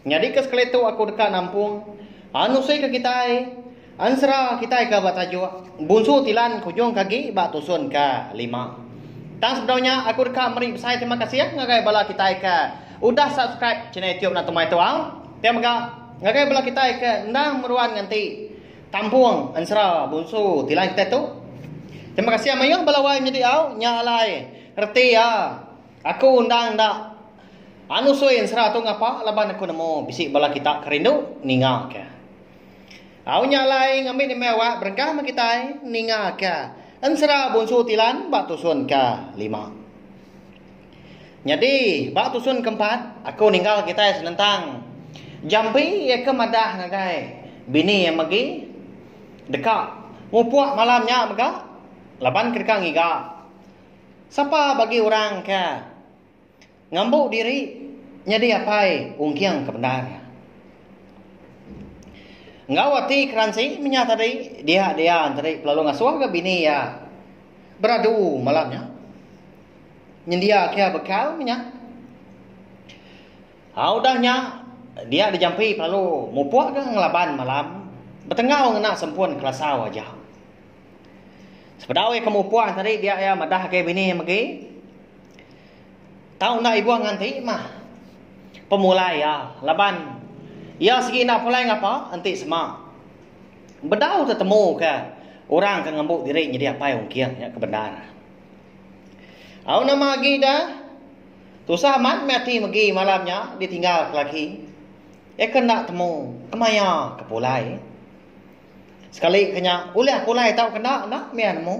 Nyadi ke sekali tu aku deka nampung anusi ke kitai, ensera kitai ke ba tajuk Bunsu Tilan Kujung Kagi ba tusun ke lima. Tang sebedau nya aku deka meri besai terima kasih ngagai bala kitai ke udah subscribe channel YouTube Natu Mai Tuau ti mega ngagai bala kitai ke endang meruan nganti tampung ensera Bunsu Tilan kitai tu. Terima kasih mayuh bala wai menyediau nya alai reti iya. Aku undang enda anu sui ensera tu ngapa laban aku nemu bisi bala kita ke rindu ninga ke. Au nya alai ngambi nembiak awak berengkah meh kitai ninga ke ensera Bonsu Tilan ba tusun ke lima. Nyadi ba tusun ke empat aku ninggal kitai senentang Jambi iya ke madah ngagai bini iya megi deka mupuk malam nya mega laban ke deka ngiga. Sapa bagi orang ke ngambu diri nyadi apai ungking ke bendar. Enggau ati keransi menyah tadi dia Dian tadi pelalu ngasuh ga bini iya beradu malam nya. Nyendia ke iya bekal menyah. Au udah nya dia dijampi pelalu mupuk ga ngelaban malam betenggau ngena sempun kelasau aja. Sepedau iya ke mupuh tadi dia iya madah agi bini iya megi. Tau enda ibuh ngan ti mah pemulai iya laban iya segi enda pulai ngapa enti sema bedau tetemu ke orang ke ngembu diri nyadi apai ungking iya ke bendar. Au nama agi da tusah amat meh ati megi malam nya ditinggal ke laki iya ke enda temu kemaya ke pulai. Sekali ke nya, ulih aku alai tau kena enda mih nemu.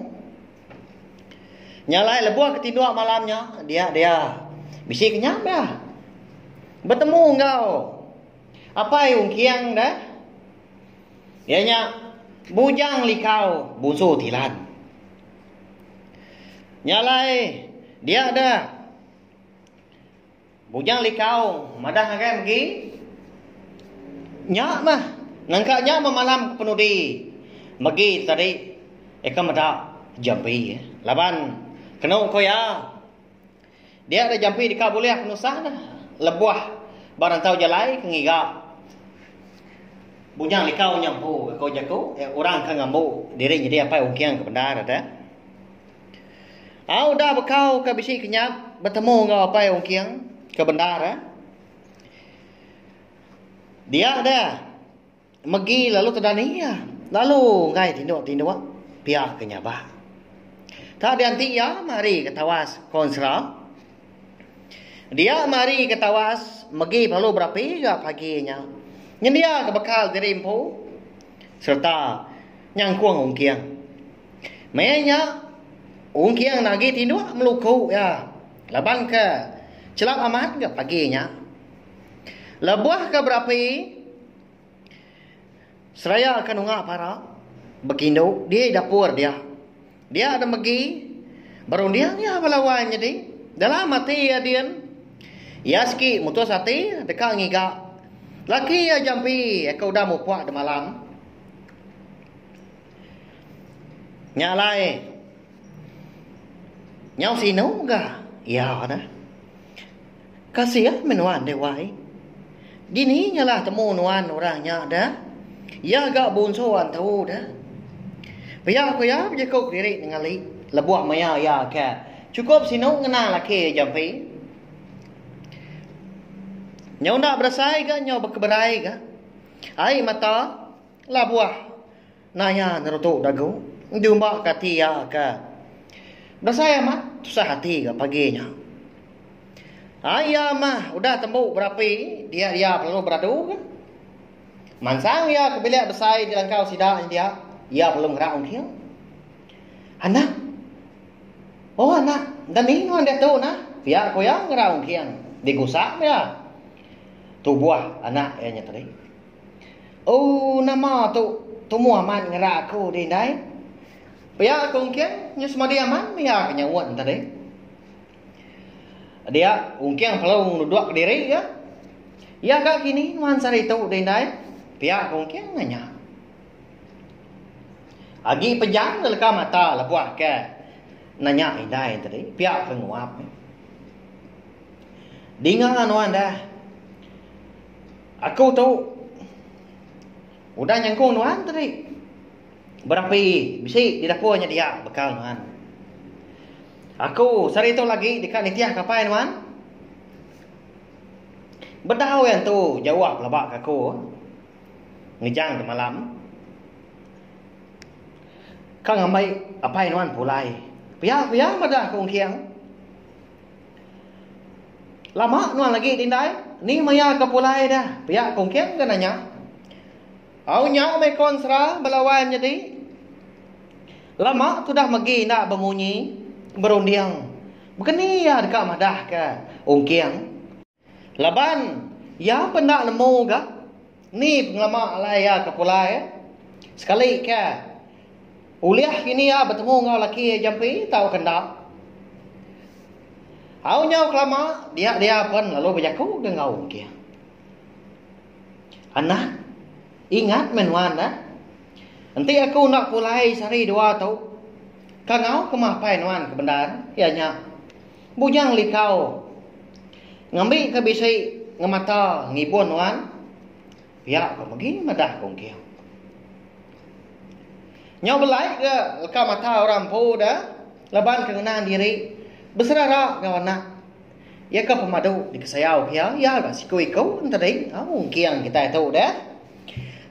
Nya alai lebuh ke tinduk malam nya, dia dia. Bisi ke nya mih. Betemu enggau Apai Ungking deh. Iya nya Bujang Likau, Bunsu Tilan. Nya alai, dia deh. Bujang Likau madah ngagai megi nya mah nangka nya memalam ke penudi megi tu tadi eka meda jampi laban kenu ku iya dia ada jampi deka bulih penusah ne lebuh ba rantau jalai ke ngiga Bujang Likau nya empu ko jaku orang ke ngembu diri nyidi apai ungking ke bendar. Au udah bekau ke bisi kenyap betemu enggau Apai Ongking ke bendar eh. Dia deh megi lalu tedani iya. Lalu enggai tinduk-tinduk pia ke nyabak. Tak dianti iya mari ke tawas Konsera. Dia mari ke tawas megi belalu berapi ga pagi nya. Nyendia ke bekal diri empu sereta nyangkung Ongking. Maya nya, Ongkiang agi tinduk meluku iya laban ke chelap amat ga pagi nya. Lebuh ke berapi, seraya ke nunga para bekindu di dapur dia. Dia enda megi berunding iya bala wai nyadi. Dalam ati iya din, iya sigi mutus ati deka ngiga laki iya jampi ke udah mupuk demalam. Nya alai nyau sinu ga iya neh. Kasih meh nuan deh wai. Dini nyalah temu nuan orang nya deh. Iya ga bunsu antu deh. Pia ku iya bejaku kediri nengeli lebuh maya iya ke chukup sinu ngena laki iya jampi. Nyau enda berasai ga nyau bekeberai ga ai mata. Labuh naya nyerutu dagu endu ba kati iya ke besai amat tusah ati ga pagi nya. Ai iya mah udah tembu berapi dia iya lalu beradu ga. Mansang iya ke bilik besai dilangkau sida nyendia iya lalu ngerau engking. Anak. Oh anak enda ni nuan diatu nah, pia ku iya ngerau engking digusak iya. Tubuh anak iya nya tadi. Ooh nama tu tumu amat ngera aku di indai. Pia aku ungking nyu semadi amat mega ke nyaut tadi. Dia ungking perlu nudok ke diri ga. Iya ga kini nuan sehari tu di indai? Pia aku ungking nanya. Agi pejam ga leka mata lebuh ke nanya indai tadi. Pia ke nguap. Dinga nuan dah. Aku tu udah nyengkung nuan tadi. Berapi bisi di dapur nya dia bekal nuan. Aku sehari tu lagi deka nitih kapai nuan. Bedau yang tu jauh pelaba ke aku. Ngejang ke malam. Ka ngambai apai nuan pulai. Pia-pia madah aku engking. Lama nuan agi di indai? Ni maya ke pulai dah. Pia Kungking ke nanya. Au nya meh Konsra bala wan nyadi. Lama tudah megi enda bemunyi, berunding. Begeni iya deka madahka Ungking. Laban iya pun enda nemu ga ni pengelama alai iya ke pulai eh. Sekali ke ulih kini iya betemu enggau laki iya jampi tauka enda. Au nyau kelama dia dia pun lalu bejaku ga enggau engkih. Anak ingat meh nuan eh. Enti aku enda pulai sehari dua tu, ka enggau ke mah apai nuan ke bendar iya nya. Bujang likau. Ngambi ke bisi ngemata ngibun nuan. Pia ko megi madah ko engking. Nyau belai ke leka mata orang empu da laban ke ngenang diri beserara enggau anak iya ke pemadu dikesayau ke iya iya ga siku iku entadi au engking kitai tu deh.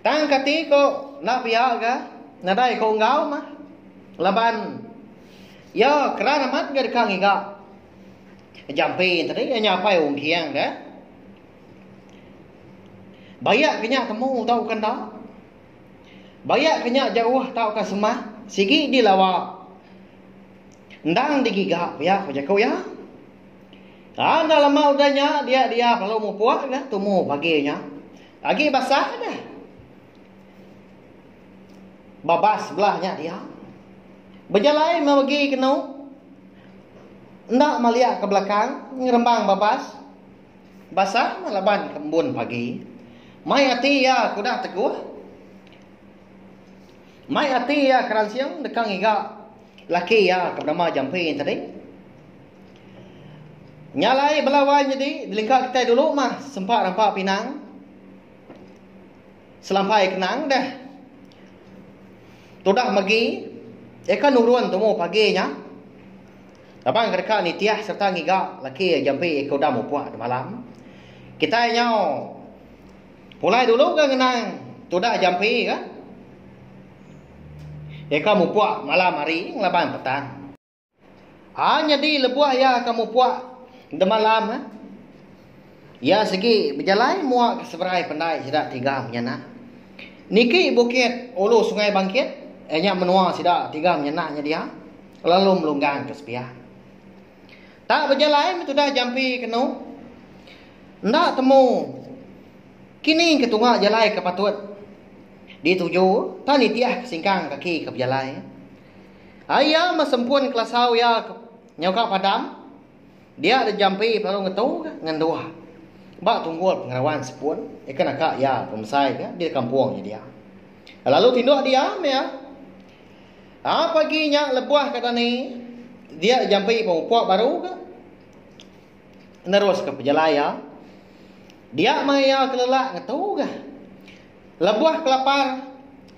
Tang kati ko enda pia ga nadai ko enggau mah laban. Iya keran amat enggau deka ngiga. Jampi tadi iya nyapai Ong Kiang dah. Bayak ke nya temu tauka enda. Bayak ke nya jauh tauka semah. Sigi dilawa. Endang digiga pia ku jaku iya. Ha, enda lama udah nya, dia dia lalu mupuk dah tumu pagi nya. Agi basah dah. Babas blah nya dia. Bejalai mebegi kenu. Enda maliak ke belakang ngerembang babas. Basa meh laban ke embun pagi. Mai ati iya ke udah teguh. Mai ati iya ke ransing deka ngiga laki iya ke benama Jampi tadi. Nya alai bela wai nyadi di lingka kitai dulu mah sempa rampa pinang. Selampai ke nang deh. Tudah megi eka nurun tumu pagi nya. Raban ke deka nitih sereta ngiga laki jampi eka udah mupuk temalam. Kitai nyau pulai dulu ga ngenang tudah jampi ga eka mupuk malam hari ngelaban petang. Haa nyadi lebuh iya ka mupuk demalam eh. Iya sigi bejalai mua ke seberai pendai sida tiga menyanak. Niki bukit ulu sungai bangkit eh nya menua sida tiga menyanak nya dia lalu melunggang ke sepiak. Tak bejalai meh tudah jampi kenu. Enda temu kini ke tunga jalai ke patut dituju tang nitih ke singkang kaki ke bejalai. Ari iya mesempun kelasau iya ke nyau ka padang, dia deh jampi lalu ngetu ka ngenduh ba tunggul pengawan sepun ika naka iya pemesai ka di kampung nya dia. Lalu tinduk diam iya. A pagi nya lebuh ka dani dia deh jampi pemupuk baru ka. neruska pejalai iya. Dia mai iya kelelak ngetuga. Lebuh kelapar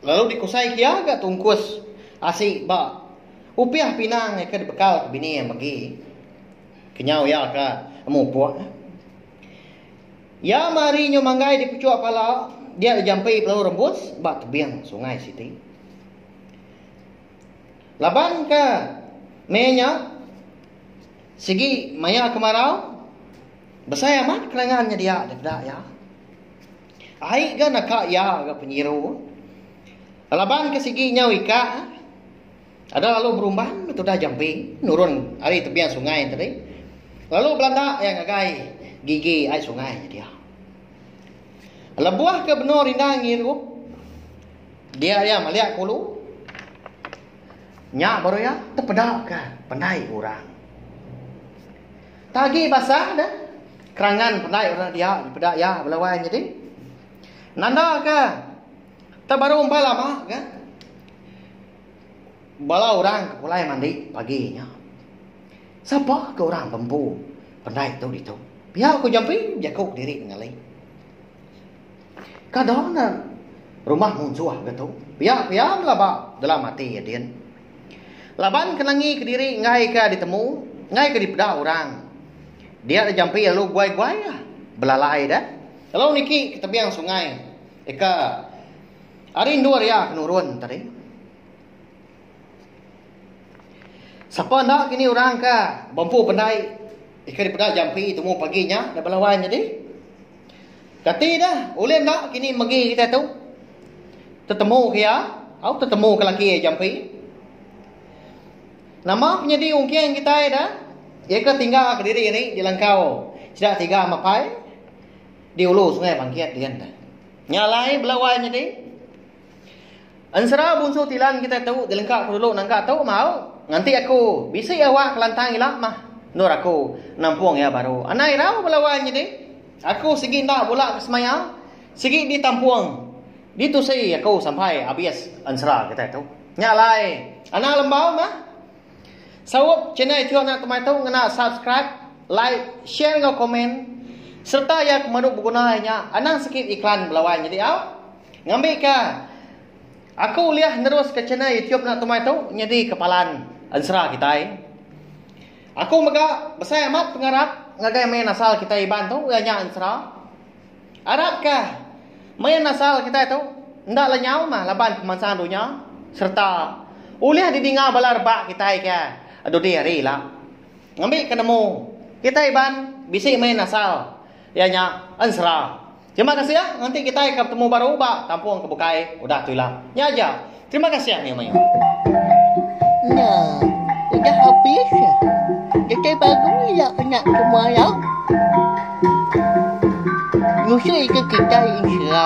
lalu dikusaika iya ga tungkus asi ba upih pinang ke dibekalka bini iya megi. Kenyau iya ka mupuk. Iya mari nyau manggai di puchuk pala dia dijampi pelalu rembus ba tebing sungai siti. Laban ka meh nya. Sigi maya kemarau, besai amat kenangan nyedia dikeda iya. Ai ga naka iya ga penyiru. Laban ke sigi nyau ika, ada lalu berumban betudah jampi nurun ari tebian sungai tadi lalu belanda iya ngagai gigi ai sungai nyedia. Lebuh ke benung rindang ngirup, dia iya malik ke ulu. Nya baru iya tepeda ke pendai orang. Tagi basa de, kerangan pendai orang dia dipeda iya bela wai nyadi. Nanda ke, tak baru empai lama ke, bala orang ke pulai mandi pagi nya. Sapa ke orang bempu pendai tu ditu? Pia ku jampi, jaku diri ngali. Kada na rumah munsuh ga tu. Pia pia mela ba dalam ati iya din. Laban ke nangi ke diri enggai ka ditemu, enggai ka dipeda orang. Dia da jampi lalu guai guai lah belalai da. Lalu niki ke tebing sungai ika ari endur iya ke nurun tadi. Sapa enda kini orang ka bempu pendai ika dipeda jampi temu pagi nya da belawan nyadi. Kati deh ulih enda kini megi kitai tu tetemu ke iya tau tetemu ke laki iya jampi. Nama penyadi ungking kitai deh iya ke tingga kediri ari di langkau sida tiga mapai di ulu sungai bangkit dian deh. Nya alai bela wai nyadi. Ensera bunsu Tilan kitai tu jelengka ku dulu nangka tu mau nganti aku bisi awak kelantang ila mah endur aku nampung iya baru anai irau bala wai nyadi aku sigi enda bula ke semaya sigi ditampung ditusi aku sampai abis ensera kitai tu nya alai anak lembau mah saup channel iku anak temai tu ngena subscribe like share enggau komen sereta iya ke madu beguna iya nya anang sikit iklan bala wai nyadi au. Ngambika, aku ulih neruska channel YouTube enda tumai tu nyadi kepalan ensera kitai. Aku mega besai amat pengarap ngagai main asal kitai Iban tu iya nya ensera. Arapka main asal kitai tu enda lenyau mah laban pemansang dunya sereta ulih didinga bala rebak kitai ke dudi hari ila. Ngambika nemu, kitai Iban bisi main asal iya nya ensera. Terima kasih nganti kitai ka betemu baru ba kampung ke bukai udah tu ila. Nya aja. Terima kasih mayuh mayuh. Nya. Udah habis. Kitai baru ila anak ke muara. Nyusui ke kitai ensera.